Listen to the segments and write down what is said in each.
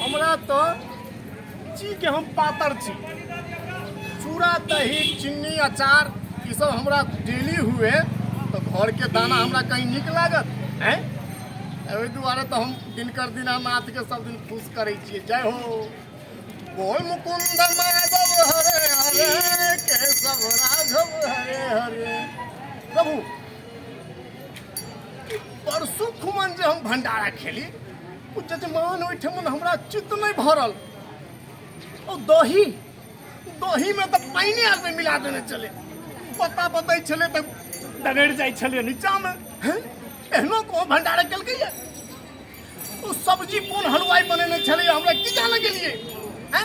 हमरा तो ची के हम पातर छी चूड़ा दही चीनी अचार ई सब हमरा डेली हुए तो घर के दाना हमरा कहीं निक लागत हैं ओहि दुआरे तो हम दिनकर दीनानाथ के सब दिन खुश करे छिए जय हो बोल मुकुंद माधव हरे हरे केशव राघव हरे हरे प्रभु परसु खुमन जे हम भंडारा खेली जजमान ओहिठाम हमरा चित्त नहि भरल ओ दही दहीमे तऽ पानिए आदमी मिला देने छलै पता बतै छलै तऽ डगड़ि जाइ छलै नीचाँमे हँ? एहनो कोनो भंडारा केलकैए ओ सब्जी कोन हलवाई बनेने छलै हमरा की जाने गेलिए हैं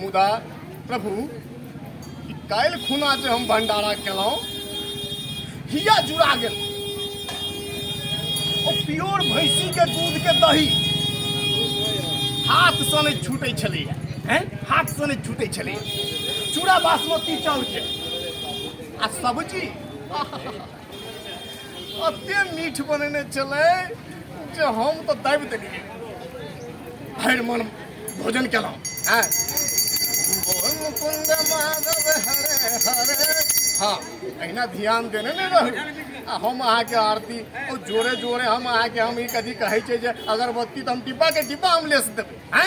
मुदा प्रभु ई काल्हि खुना जे हम भंडारा केलहुँ हिया जुड़ा गेल ओ प्योर भैंसी के दूध के दही हाथ से नहि छूटै छलैया हैं? हाथ से नहि छूटै छलैया चूड़ा बासमती चाउर के आ सब्जी आहा, अते मीठ बनेने छलै जे हम तऽ दाबि देलियै भरि मन भोजन केलहुँ हँ भोजन मुकुंद माधव हरे हरे हँ अहिना ध्यान देने नहि रहू आ हम अहाँके आरती ओ जोरे जोरे हम अहाँके हम ई कथी कहै छै जे अगरबत्ती तऽ हम डिब्बाके डिब्बा हम लेस देबै हँ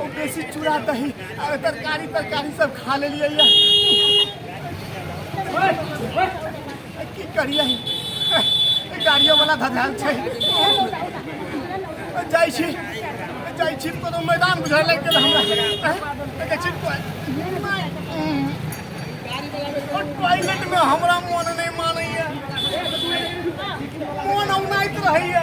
ओ बेसी चूड़ा दही आ तरकारी तरकारी सब खा लेलिए ये। ओए, ओए, ए, की करिए गाड़ियों वाला धधाल छै जाइ छी जाइ छी कोनो मैदान बुझाय लागि गेल हमरा ए, देखै छी टॉयलेट में हमरा मन नहीं मानैया मन औनाइत रहैया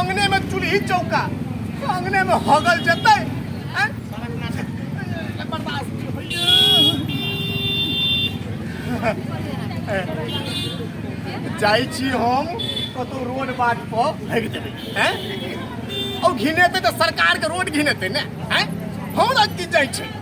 अंगने में चूल्ही चौका अंगने में हगल जतै आँय? बर्दाश्त नहि होइए। जाइ छी हम कतौ रोड बाट पर भागि जेबै हैं ओ घिनेतै तऽ सरकारके रोड घिनेतै ने हैं हमरा की जाइ छै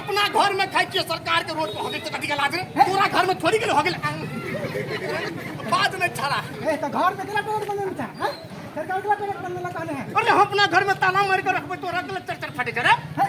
अपना घर में खाई छियै सरकार के रोड पर हो गेल तऽ कथी के लाज रे तोरा घर में थोड़ी गेल हो गेल बात में छड़ा तऽ घर में केना टोल बनल छै हैं? सरकार केना टोल बनल कहने है अरे हम अपना घर में ताला मार के रखबै तोरा के चर चर फटे करे हैं?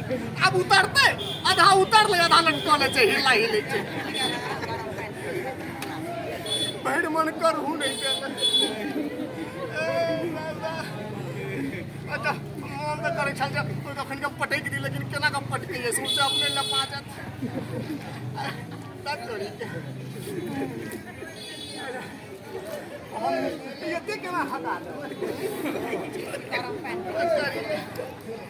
आब उतरते आधा उतर ले आधा लटकऽ ले छै हिला हिलै छै भरि मन करहु नहि केलक ए, दादा। अच्छा मोन तऽ करै छल जे कोइ कखन के पटकि दी लेकिन केना कऽ पटकै जे सोचे अपने लपा जायत तब तोरी के हम एते केना हटा देबै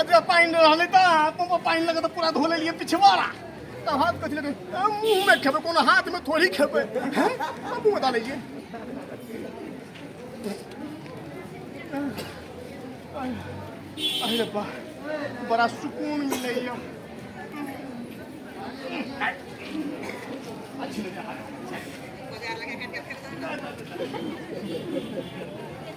अजरा पानि रहलै तऽ अपन पानि लगे तऽ पूरा धो लेलियै पिछवाड़ा तब हाथ कथी लगे मुँह में खेबै कोनो हाथ में थोड़ी खेबै हैं अब मुँह डालै छियै अरे रब्बा बड़ा सुकून मिलै यऽ